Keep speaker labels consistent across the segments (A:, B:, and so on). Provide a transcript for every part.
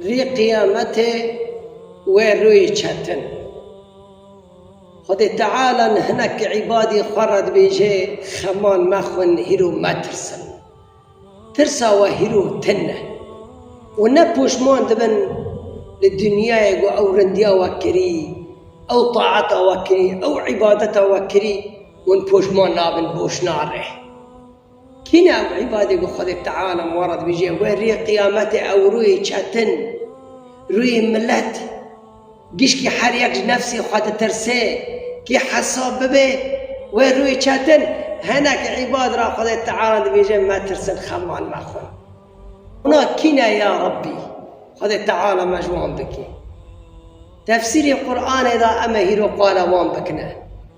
A: Rî qiyametê wê rûyê çetin. Xwedê Teala li hinek îbadî xwe re dibêje, Xeman mexwin hîro metirsin. Tirsa we hîro tin e. Û ne poşman dibin li dinyayê ku ew rindiya we kirî, ew taeta we kirî, ew îbadeta we kirî, hûn poşman nabin boşna re. Kî ne ew îbadê ku Xwedê Teala li were dibêje, wê rê qiyametê ew rûyê çetin, rûyê milet, gişkî her yek ji nefsê xwe ditirsê, kî hesab bibe, wê rûyê çetin, hinek îbad re Xwedê Teala dibêje metirsin xemal mexwin. Ona kî ne ya Rabbî Xwedê Teala me ji wan bikî. Tefsîrê Quranê de em ê hîro qala wan bikine.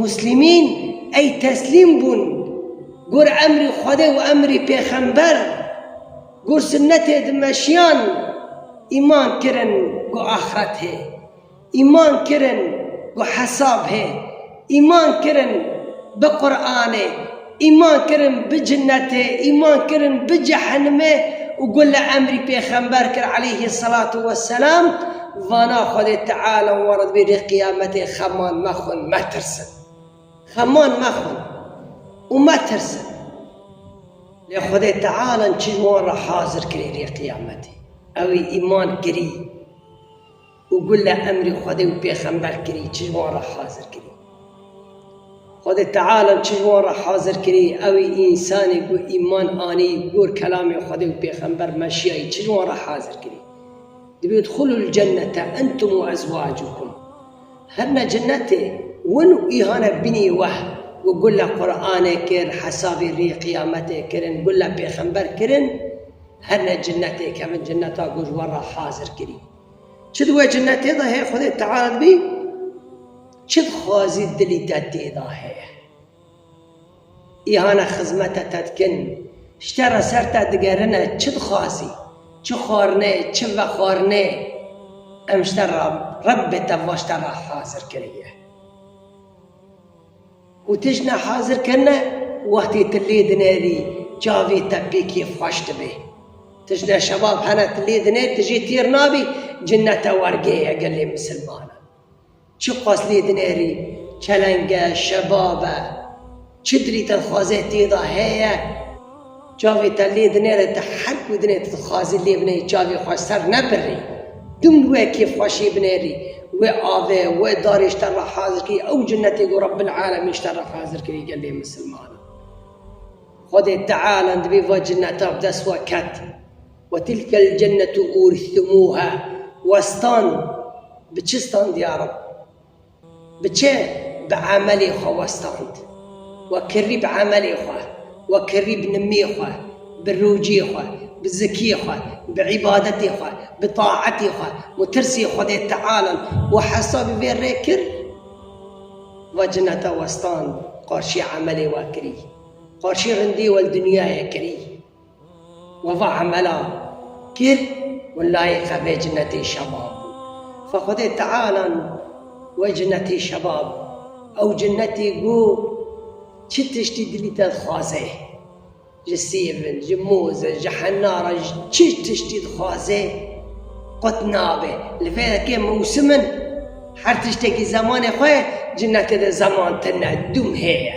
A: Muslimîn ey teslîm bûn gor emrê Xwedê û emrê pêxember, gor sunnetê di meşiyan îman kirin ku axret hê, îman kirin ku hesab hê, îman kirin bi Quranê, Îman kirin bi cinetê, îman kirin bi cehenimê û gu li emrî pêxember kir aleyhî selatû we selam, vana Xwedê Teala û werid bê dê qiyametê xeman mexwin metirsin. Xeman mexwin û metirsin. Lê Xwedê Teala çi ji wan re hazir kirî dê qiyametê? Ewî îman kirî. Û gule emrî Xwedê û pêxember kirî çi ji wan re hazir kirî? Xwedê Teala çi ji wan re hazir kirî? Ew ê însanê ku îman anî gor kelamê Xwedê û pêxember meşiyayî çi ji wan re hazir kirî? Dibê udhulul cennete entum û ezwacukum Her ne cenetê win û îhane binî weh û gule Quranê kir, hesabê rê qiyametê kirin, gule pêxember kirin, her ne cenetê kevin ceneta ku ji wan re hazir kirî. Çi di we cinnetê de heye Xwedê teala dibî çi dixwazî dilî te tê de heye. Îhane xizmete te dikin, ji te re ser te digerine çi dixwazî, çi xwarinê, çi vexwarinê em ji te re Rebbê te va ji te re hazir kiriye. Û tijîne hazir kirine wextê tu lê dinerî çavê te pê kêf xweş dibe. Tijîne şebab hene tu lê dinerî tu jê têr nabî cinnete wergê ye gelê misilmanan. Çi xwest lê dinerî çeleng e, şebab e, çi dilî te dixwaze têda heye. Çavê te lê dinêre te her ku dinê tu dixwazî lê bineyî çavê xwe ser nebirrî. Tim wê kêfxweşî binêrî wê avê wê darê ji te re hazir kirî ew cinetê ku Rebbil Alemîn ji te re hazir kirî gelê misilmanan. Xwedê Teala dibê va cineta bi dest we ket, Ve tilkel cennetu urîstumûha westan bi çi standî ya Reb? Biçe bi emelê xwe westand. We kirî bi emelê xwe, we kirî bi nimê xwe, bi rojê xwe, bi zikê xwe, bi îbadetê xwe, bi taetê xwe û tirsê Xwedê Tealan û hesabî vê rê kir. Va cineta westand, qarşî emelê we kirî, qarşî rindê we li dinyayê kirî. We va emela kir û layê xwe bê cinetê şebab bû. Xwe Xwedê Teala nû we cinetê şebab bû. Ew cinetê ku çi tiştî dilî te dixwaze, ji sêvin, ji moz e, ji hena re, ji çi tiştî dixwaze qut nabe. Li vê yekê mewsim in, her tiştekî zemanê xwe ye, cinetê de zeman tune, dûm hê ye.